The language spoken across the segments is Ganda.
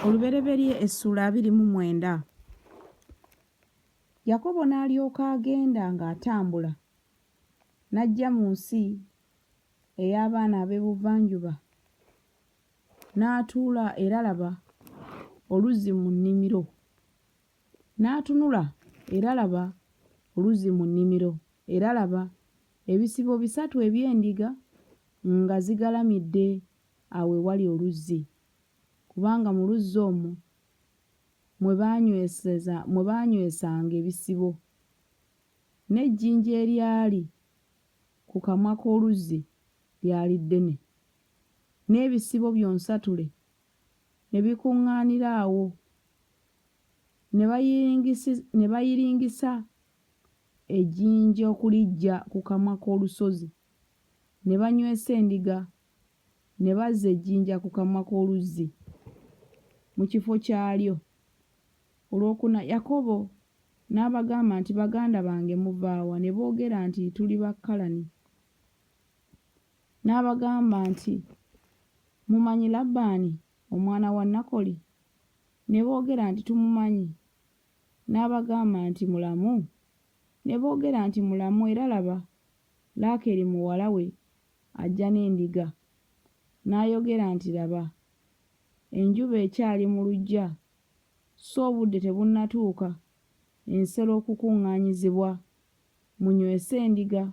olubereberye essuula abiri mu mwenda yakobo n'alyoka agenda ng'atambula n'ajja mu nsi ey'abaana ab'ebuvanjuba n'atuula era laba oluzzi mu nnimiro n'atunula era laba oluzzi mu nnimiro era laba ebisibo bisatu eby'endiga nga zigalamidde awo ewali oluzzi, kubanga mu luzzi omwo mwe baanyweseza mwe baanywesanga ebisibo, n'ejjinja eryali ku kamwa k'oluzzi lyali ddene, n'ebisibo byonsatule ne bikuŋŋaanira awo, ne bayiringisi ne bayiringisa ejjinja okuliggya ku kamwa k'olusozi, ne banywesa endiga ne bazza ejjinja ku kamwa k'oluzzi mu kifo kyalyo. Olwokuna, Yakobo n'abagamba nti, Baganda bange, muva wa? Ne boogera nti, Tuli ba Kalani. N'abagamba nti, Mumanyi Labbaani omwana wa Nakoli? Ne boogera nti, Tumumanyi. N'abagamba nti, Mulamu? Ne boogera nti, Mulamu, era laba, Laakeeri muwala we ajja n'endiga, n'ayogera nti, Laba, enjuba ekyali mu luggya, sso obudde tebunnatuuka ensero okukuŋŋaanyizibwa. Munywese endiga,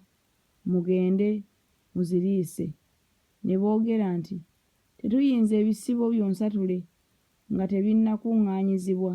mugende muziriise. Ne boogera nti, Tetuyinza ebisibo byonsatule nga tebinnakuŋŋaanyizibwa.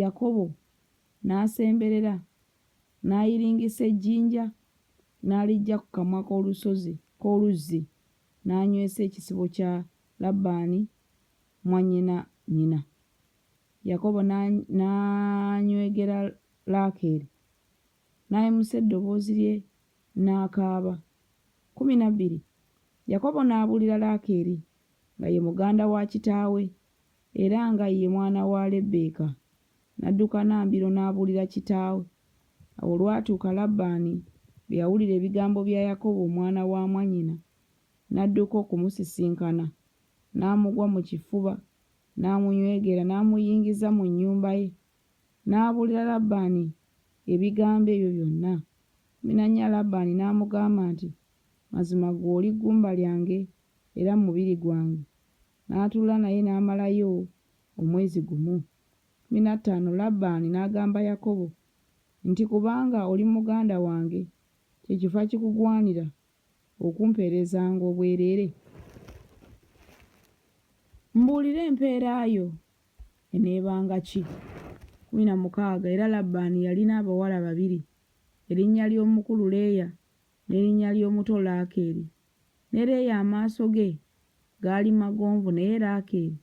Yakobo n'asemberera, n'ayiringisa ejjinja, n'aliggya ku kamwa k'olusozi, k'oluzzi, n'anywesa ekisibo kya Labbaani mwannyinannyina. Yakobo n'anywegera Laakeeri, n'ayimusa eddoboozi lye n'akaaba. Kkumi na bbiri, Yakobo n'abuulira Laakeeri, nga ye muganda wa kitaawe, era nga ye mwana wa Lebbeeka, n'adduka na mbiro n'abuulira kitaawe. Awo olwatuuka Labbaani bwe yawulira ebigambo bya Yakobo omwana wa mwannyina, n'adduka okumusisinkana, n'amugwa mu kifuba, n'amunywegera, n'amuyingiza mu nnyumba ye. N'abuulira Labbaani ebigambo ebyo byonna. Mminannya Labbaani n'amugamba nti, Mazima ggwe oli ggumba lyange era mubiri gwange. n'atuula naye n'amalayo omwezi gumu mi na ttaano Labbaani n'agamba Yakobo nti, Kubanga oli muganda wange, kye kiva kikugwanira okumpeerezanga obwereere, mbuulira empeera yo eneebanga ki? kkumi na mukaaga Era Labbaani yalina abawala babiri, erinnya ly'omukulu Leeya n'erinnya ly'omuto Laakeeri. Ne Leeya amaaso ge gaali magonvu, naye Laakeeri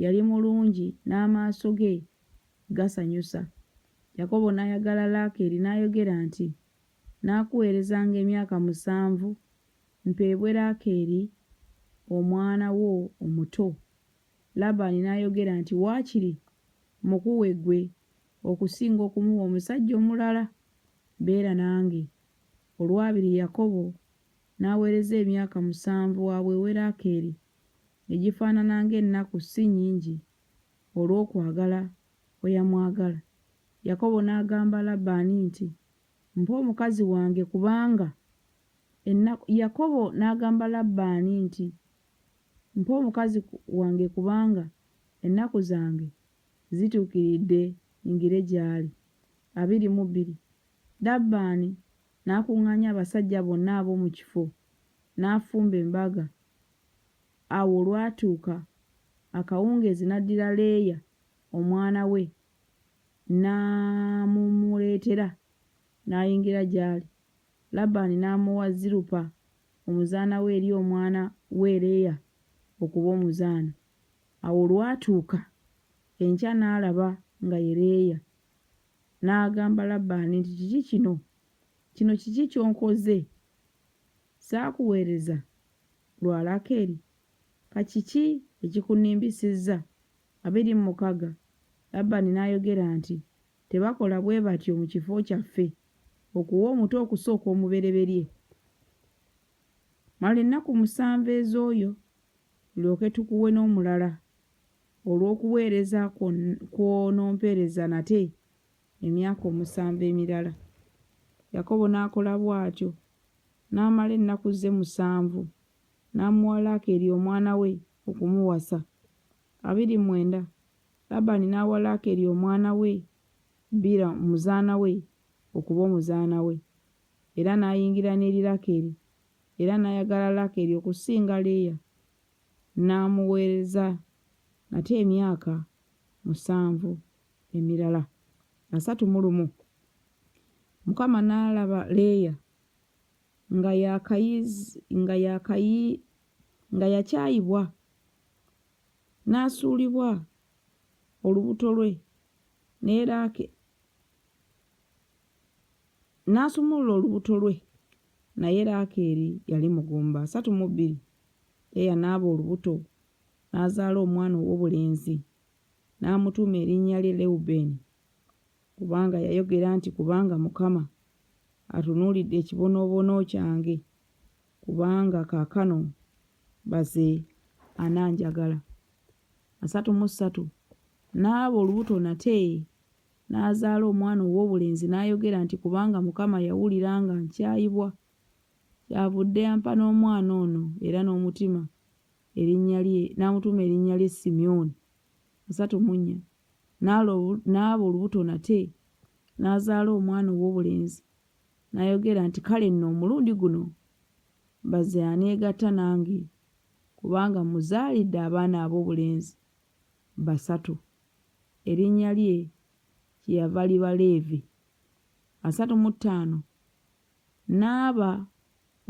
yali mulungi n'amaaso ge gasanyusa. Yakobo n'ayagala Laakeeri n'ayogera nti, Nnaakuweerezanga emyaka musanvu mpeebwe Laakeeri omwana wo omuto. Labbaani n'ayogera nti, Waakiri mmukuwe ggwe okusinga okumuwa omusajja omulala. Beera nange. Olwabiri Yakobo N'aweereza emyaka musanvu wa bwewerako eri, egifaanana ng'ennaku si nnyingi, olw'okwagala kwe yamwagala. Yakobo n'agamba Labbaani nti, Mpa omukazi wange kubanga ennaku Yakobo n'agamba Labbaani nti, Mpa omukazi wange kubanga ennaku zange zituukiridde nyingire gy'ali. abiri mu bbiri. Labbaani n'akuŋŋaanya abasajja bonna ab'omu kifo, n'afumba embaga. Awo olwatuuka akawungeezi n'addira Leeya omwana we n'amumuleetera, n'ayingira gy'ali. Labbaani n'amuwa Zilupa omuzaana we eri omwana we Leeya okuba omuzaana. Awo olwatuuka enkya n'alaba nga ye Leeya. N'agamba Labbaani nti, Kiki kino? Kino kiki ky'onkoze? Saakuweereza lwa Laakeeri? Ka kiki ekikunnimbisizza? Abiri mu mukaga. Labbaani n'ayogera nti, Tebakola bwe batyo mu kifo kyaffe, okuwa omuto okusooka omubereberye. Mala ennaku musanvu ez'oyo, tulyoke tukuwe n'omulala. olw'okuweereza kw'onompeereza nate emyaka omusanvu emirala. Yakobo n'akola bw'atyo, n'amala ennaku ze musanvu, n'amuwa Laakeeri omwana we okumuwasa. Abiri mwenda, Labbaani n'awa Laakeeri omwana we Bila omuzaana we okuba omuzaana we, era n'ayingira n'eri Laakeeri, era n'ayagala Laakeeri okusinga Leeya. n'amuweereza nate emyaka musanvu emirala asatu mu lumu. Mukama n'alaba Leeya nga yakayiz, nga yakayi, nga yakyayibwa n'asuulibwa olubuto lwe ne Raake, n'asumulula olubuto lwe naye Laakeeri yali mugumba asatu mu bbiri. Leeya n'aba olubuto n'azaala omwana ow'obulenzi n'amutuuma erinnya lye Lewubeeni, kubanga yayogera nti, Kubanga Mukama atunuulidde ekibonoobono kyange, kubanga kaakano baze ananjagala. Asatu mu ssatu n'aba olubuto nate N'azaala omwana ow'obulenzi n'ayogera nti, Kubanga Mukama yawulira nga nkyayibwa, kyavudde ampa n'omwana ono era n'omutima erinnya lye, n'amutuuma erinnya lye Simyoni. asatu mu nnya. N'alo, n'aba olubuto nate, n'azaala omwana ow'obulenzi, n'ayogera nti, Kale nno, omulundi guno baze aneegatta nange, kubanga mmuzaalidde abaana ab'obulenzi. basatu, erinnya lye kyeyava liba Leevi, asatu mu ttaano, n'aba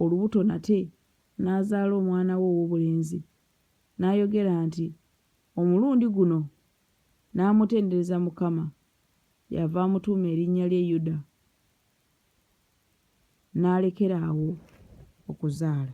olubuto nate, n'azaala omwana we ow'obulenzi, n'ayogera nti, Omulundi guno n'amutendereza Mukama, kyeyava amutuuma erinnya lye Yuda, n'alekera awo okuzaala.